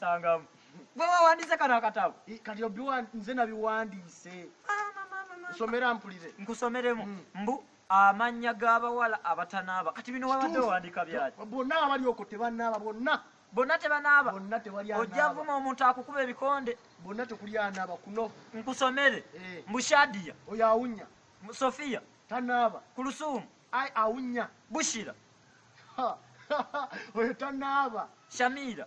Tangamu. Gwe wawandiise kano akatabo? Kati obiwa nze nabiwandiise. Nsomera mpulire. Nkusomeremu. Mm. Mbu amannya g'abawala abatanaaba. Kati bino wabadde owandiika byaki? Bonna abali okwo tebanaaba bonna. Bonna tebanaaba? Bonna tewali anaaba. Ojja vuma omuntu akukuba ebikonde. Bonna tekuli anaaba kuno. Nkusomere. Eh. Mbu Shadia. Oyo awunya. Sofia. Tanaaba. Kulusuumu. Ai awunya. Bushira. Oyo tanaaba. Shamira.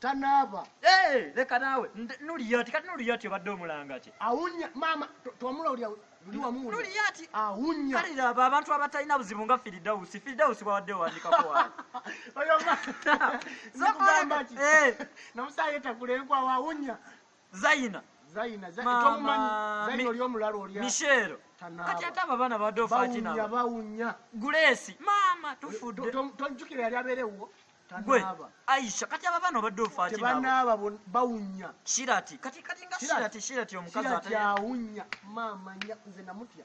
tanaaba eh, leka naawe nuliyati kati nuliyati obadde omulanga ki awunya maama twamula olya luli wamu nuliyati awunya kale laba abantu abatalina buzibu nga firidausi firidausi bwabadde owandikako wawe oyo ma zokugamba ki eh. nomusaayi etakula enkwawo awunya zayina zayina tomumanyi zayina oli omulalu oli mishero kati ate abo abaana babadde ofakinaba bawunya gulesi maama tufudde tonjukira yali abeerewwo gwe aisha kati aba baana obadde ofakinaba bawunya shirati kati kati nga shirati shirati omukazi ate awunya maama nze namutya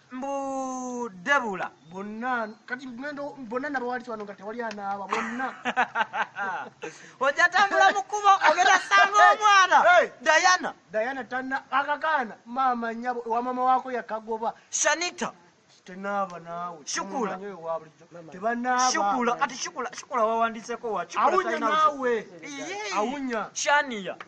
mbu debula bonna kati ngendo bonna nabawali wano nga tewali anaaba bonna ojatambula mukubo ogenda sanga omwana dayana dayana tana akakaana maama nyabo wamama wako yakagoba shanita tenaaba naawe shukula shukula kati shukula shukula wawandiseko wa awunya naawe awunya shania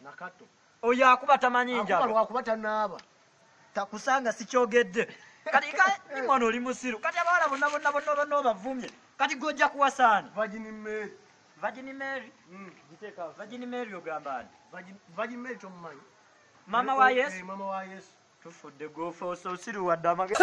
nakato oyo akuba tamanyi njabalwakuba tanaaba takusanga sikyogedde kati ka mwana oli musiru kati abawala bonna bonna bonna bonna obavumye kati gojja kuwasaani vagini mary vagini mary hmm. vagini mary ogamba ani vagini mary tomumanyi mama wa yesu eh, mama wa yesu tufudde gofe ososiru wadde amagezi